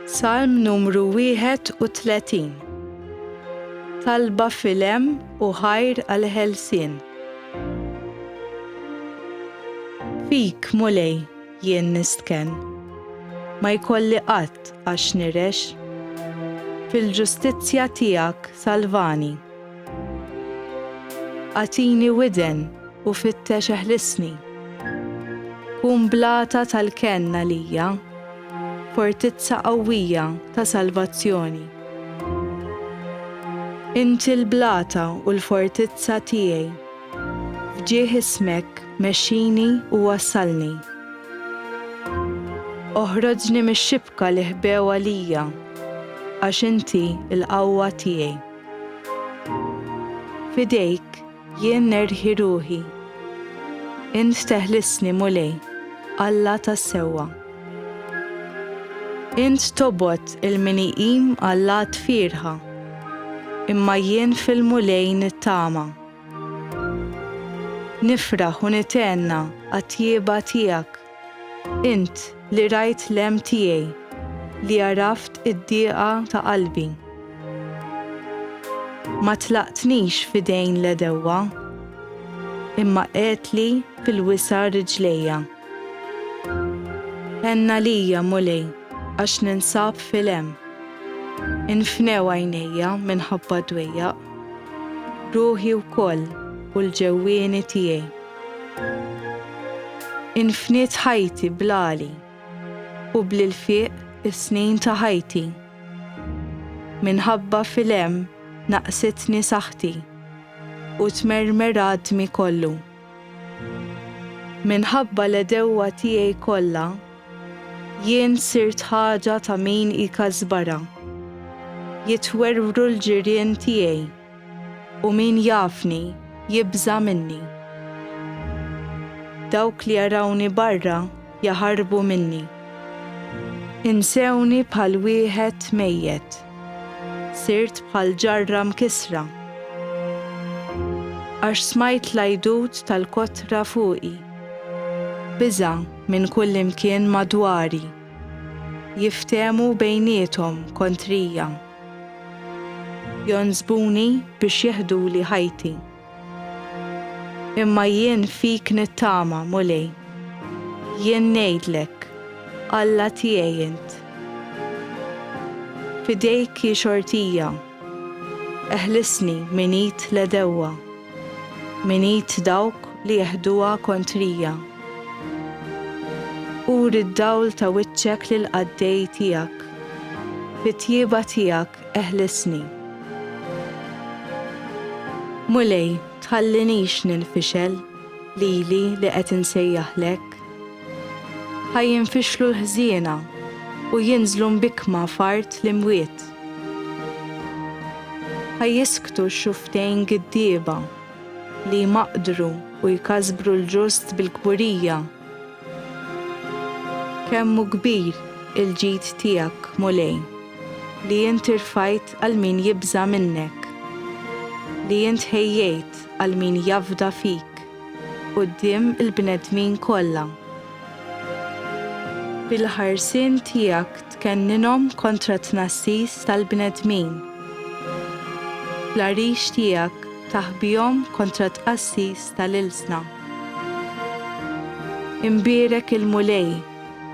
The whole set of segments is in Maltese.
Salm numru 31 Talba filem u ħajr għal ħelsien. Fik, Mulej, jien nistken. Ma jkolli qatt għax nirex. Fil-ġustizzja tiegħek salvani. Agħtini widen u fittex eħlisni. Kun blata tal-kenn għalija, fortizza qawwija ta' salvazzjoni. Inti l-blata u l-fortizza tiegħi, f'ġieħ ismek mexxini u wassalni. Oħroġni mix-xibka li ħbew għalija, għax inti l-qawwa tiegħi. F'idejk jien nerħi ruħi. Int teħlisni, Mulej, Alla tas-sewwa. Int tobgħod il-min iqim għal lat fierħa, imma jien fil-Mulej nittama. Nifraħ u nitenna għat-tjieba tiegħek. Int li rajt l-hemm tiegħi, li għaraft id-dieqa ta' qalbi. Ma tlaqtnix f'idejn l-għedewwa, imma qiegħdtli fil-wisa' riġlejja. Għenn għalija, Mulej, għax ninsab fil-hemm. Infnew għajnejja minħabba d-dwejjaq, ruħi wkoll u l-ġewwieni tiegħi. Infniet ħajti bl-għali u bl-ilfiq is-snin ta' ħajti. Minħabba fil-hemm naqsitni saħħti u tmermer għadmi kollu. Minħabba l-għedewwa tiegħi kollha jien sirt ħaġa ta' min ikasbarha. Jitwerwru l-ġirien tiegħi. U min jafni jibża' minni. Dawk li jarawni barra jaħarbu minni. Insewni bħal wieħed mejjet. Sirt bħal ġarra mkissra. Għax smajt l-għajdut tal-kotra fuqi. Biża' minn kullimkien madwari. Jiftehmu bejniethom kontrija. Jonsbuni biex jeħduli ħajti. Imma jien fik nittama, Mulej. Jien ngħidlek, Alla tiegħi int. F'idejk hi xortija. Eħlisni minn id l-għedewwa. minn id dawk li jeħduha kontrija. Uri d-dawl ta' wiċċek lill-qaddej tiegħek, fit-tjieba tiegħek eħlisni. Mulej, tħallinix ninfixel, lili li qed insejjaħlek. Ħa jinfixlu l-ħżiena u jinżlu mbikkma f'art l-imwiet. Ħa jisktu x-xufftejn giddieba, li jmaqqdru u jkasbru l-ġust bil-kburija. Kemm hu kbir il-ġid tiegħek, Mulej, li int irfajt għal min jibża' minnek, li int ħejjejt għal min jafda fik! quddiem il-bnedmin kollha. Bil-ħarsien tiegħek tkenninhom kontra t-tnassis tal-bnedmin. Bl-għarix tiegħek taħbihom kontra t-tqassis tal-ilsna. Imbierek il-Mulej,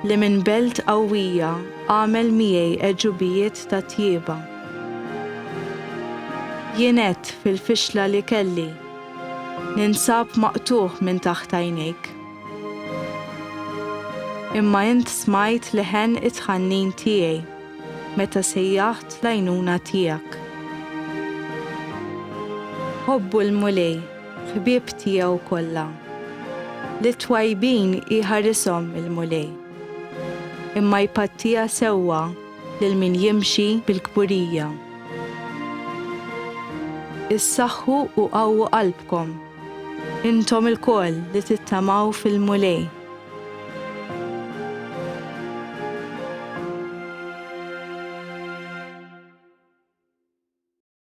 li minn belt qawwija għamel miegħi għeġubijiet ta' tjieba. Jien għedt fil-fixla li kelli. Ninsab maqtugħ minn taħt għajnejk. Imma int smajt leħen it-tħannin tiegħi meta sejjaħt l-għajnuna tiegħek. Ħobbu l-Mulej, ħbieb tiegħu kollha. Lit-twajbin iħarishom il-Mulej, imma jpattija sewwa Lil min jimxi bil-kburija. Issaħħu u qawwu qalbkom, intom ilkoll li tittamaw fil-Mulej.